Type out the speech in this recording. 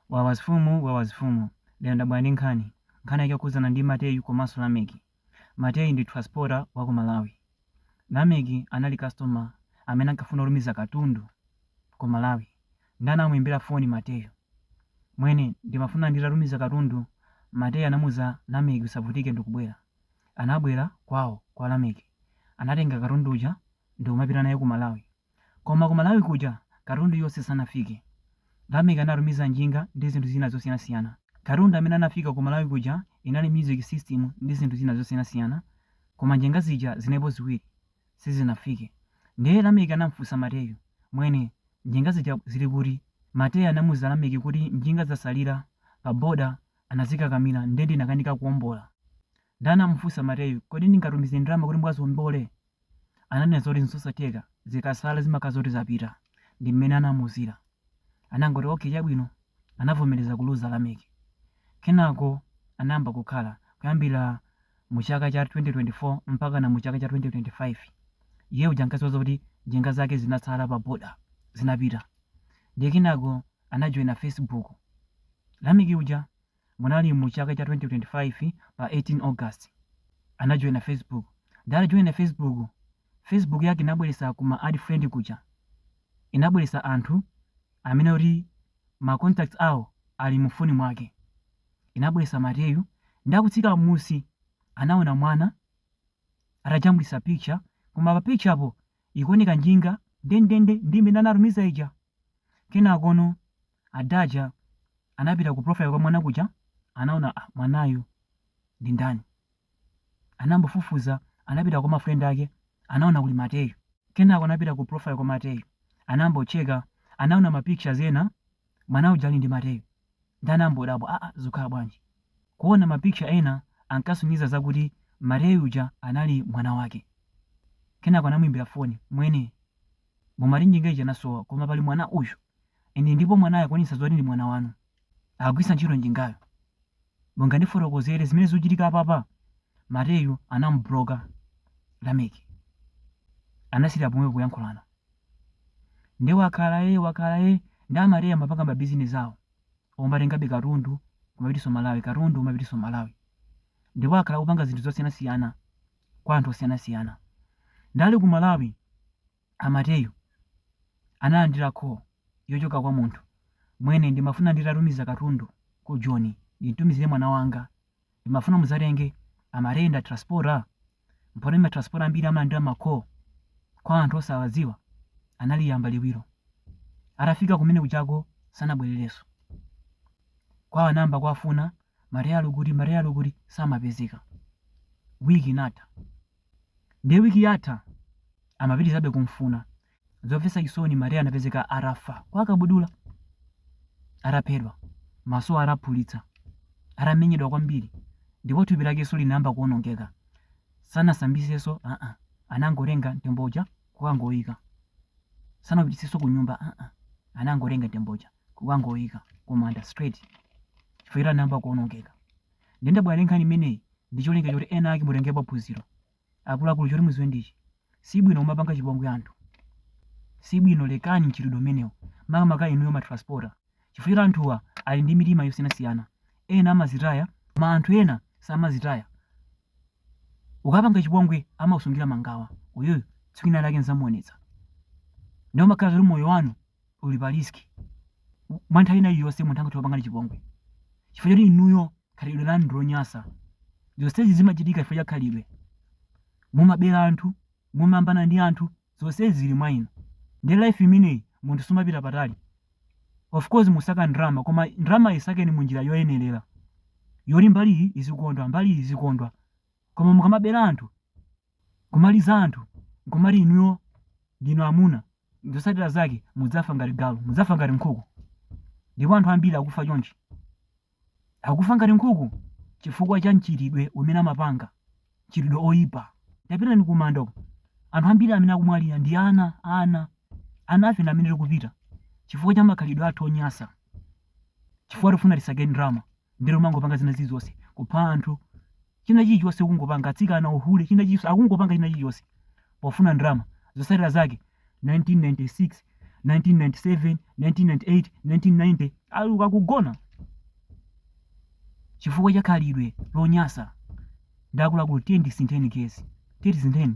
Wawa zifumu wawa zifumu lero ndabwera ndi nkhani nkhani yake yokhudzana ndi mateyu komanso lameki mateyu ndi transporter wa ku malawi lameki anali customer amene ankafuna kutumiza katundu ku malawi nde anamuimbira foni mateyu mwene ndimafuna nditatumiza katundu mateyu anamuuza lameki usavutike ndikubwera anabwera kwawo kwa lameki anatenga katundu uja ndikumapita naye ku malawi Koma ku Malawi kuja katundu yonse sanafike. Lameck anatumiza njinga ndi zinthu zina zosiyanasiyana. Katundu amene anafika ku Malawi kuja inali music system ndi zinthu zina zosiyanasiyana koma njinga zija zinalipo ziwiri sizinafike. Ndiye Lameck anamfunsa Mateyu, mwene, njinga zija zili kuti? Mateyu anamuuza Lameck kuti njinga zasalira pa boda anazikakamira nde ndinakanika kuombola. Nde anamufunsa Mateyu, kodi ndingatumize ndalama kuti mukaziombole? ananena zoti n'zosatheka, zikasala zimakhala zoti zapita. Ndi mmene anamuuzira. Anangoti, Okay, chabwino. Anavomereza kuluza Lameki. Kenako anayamba kukhala, kuyambira mu chaka cha 2024 mpakana mu chaka cha 2025. Iye uja ankadziwa zoti njinga zake zinasala pa border, zinapita. Ndiye kenako anajoina Facebook. Lameki uja Munali mu chaka cha 2025 pa 18 August anajoina Facebook ndiye atajoina Facebook, Facebook yake inabweretsa ku ma add friend kuja inabweretsa anthu amene kuti ma contacts awo ali mu phone mwake inabweretsa Mateyu nde akutsika mmusi anaona mwana atajambulitsa picture koma pa picture po ikuoneka njinga ndendende ndi imene anatumiza ija kenakono Ada aja anapita ku profile kwa mwana kuja anaona ah, mwanayu ndi ndani anambofufuza anapita kwa mafriend ake anaona kuli mateyu kenako anapita ku profile kwa mateyu anambocheka anaona ma pictures ena mwana uja ali ndi mateyu nde anambodabwa aa ah, ah, zukhala bwanji kuona ma picture ena ankasonyeza zakuti mateyu uja anali mwana wake kenako anamuimbira foni mwene mumati njinga ija inasowa koma pali mwana uyu Ine ndipo mwanayo akuonetsa zoti ndi mwana wanu. Akugwiritsa ntchito njingayo. Mungandifotokozere zimene zikuchitika apapa? Mateyu anamubuloka Lameck. Anasiyira pomwepo kuyankhulana. Nde wakhala ee wakhala ee ndi Amateyu amapanga mabizinesi awo omatengabe katundu kumapititsa Malawi katundu kumapititsa Malawi. Ndipo akhala akupanga zinthu zosiyanasiyana kwa anthu osiyanasiyana. Nde ali ku Malawi a Mateyu analandira call yochoka kwa munthu, mwene ndimafuna nditatumiza katundu ku Joni ndimtumizire mwana wanga ndimafuna mudzatenge, amati ndi a transporter? Mpomwe ma transporter ambiri amalandira ma call kwa anthu osawadziwa analiyamba liwiro. Atafika kumene kuchako sanabwererenso. Kwawo anayamba kuwafuna Mateyu ali kuti Mateyu ali kuti samapezeka. Week inatha. Ndiye wiki yatha amapitirizabe kumfuna. Zomvetsa chisoni, Mateyu anapezeka atafa kwa Kabudula, ataphedwa, maso ataphulitsa, atamenyedwa kwambiri, ndipo thupi lakenso linayamba kuwonongeka. Sanasambitsenso, aa, anangotenga mtembo uja kukangoyika. Sanapititsenso kunyumba, aa, anangotenga mtembo uja kukangoyika kumanda straight, chifukwa choti anayamba kuwonongeka. Ndiye ndabwera ndi nkhani imeneyi ndi cholinga choti ena ake mutengepo phunziro. Akuluakulu choti mudziwe ndichi, sibwino kumapanga chipongwe anthu. Sibwino lekani mchitidwe umenewo makamaka inuyo ma transporter chifukwa choti anthuwa ali ndi mitima yosiyanasiyana. Ena amazitaya koma anthu ena samazitaya. Ukapanga chipongwe amakusungira mangawa uyuyu tsiku lina lake ndzamuonetsa. Ndiye umakhala zoti moyo wanu uli pa risk mwa nthawi ina iliyonse munthu angathe kukupangani chipongwe chifukwa choti inuyo khalidwe lanu ndilonyasa zonsezi zimachitika chifukwa cha khalidwe mumabera anthu mumayambana ndi anthu zonsezi zili mwa inu ndi life imeneyi munthu sumapita patali of course musaka ndrama koma ndrama isakeni mu njira yoyenerera yoti mbali iyi izikondwa mbali iyi izikondwa koma mukamabera anthu kumaliza anthu nkumati inuyo ndinu amuna Zotsatira zake mudzafa ngati galu, mudzafa ngati nkhuku. Ndipo anthu ambiri akufa chonchi. Akufa ngati nkhuku chifukwa cha mchitidwe umene amapanga, mchitidwe oipa. Tapitani kumanda uko. Anthu ambiri amene akumwalira ndi ana, ana. Anafe ndi amene tikupita chifukwa cha makhalidwe athu onyasa, chifukwa tikufuna tisake ndrama. ndiye mangopanga zina zilizonse kupha anthu china chilichonse kungopanga atsikana uhule china chilichonse akungopanga china chilichonse pofuna ndrama zotsatira zake 1996 1997 1998 1990 ali uko akugona chifukwa cha khalidwe lonyasa ndiye akuluakulu tiye tisintheni guys tiye tisintheni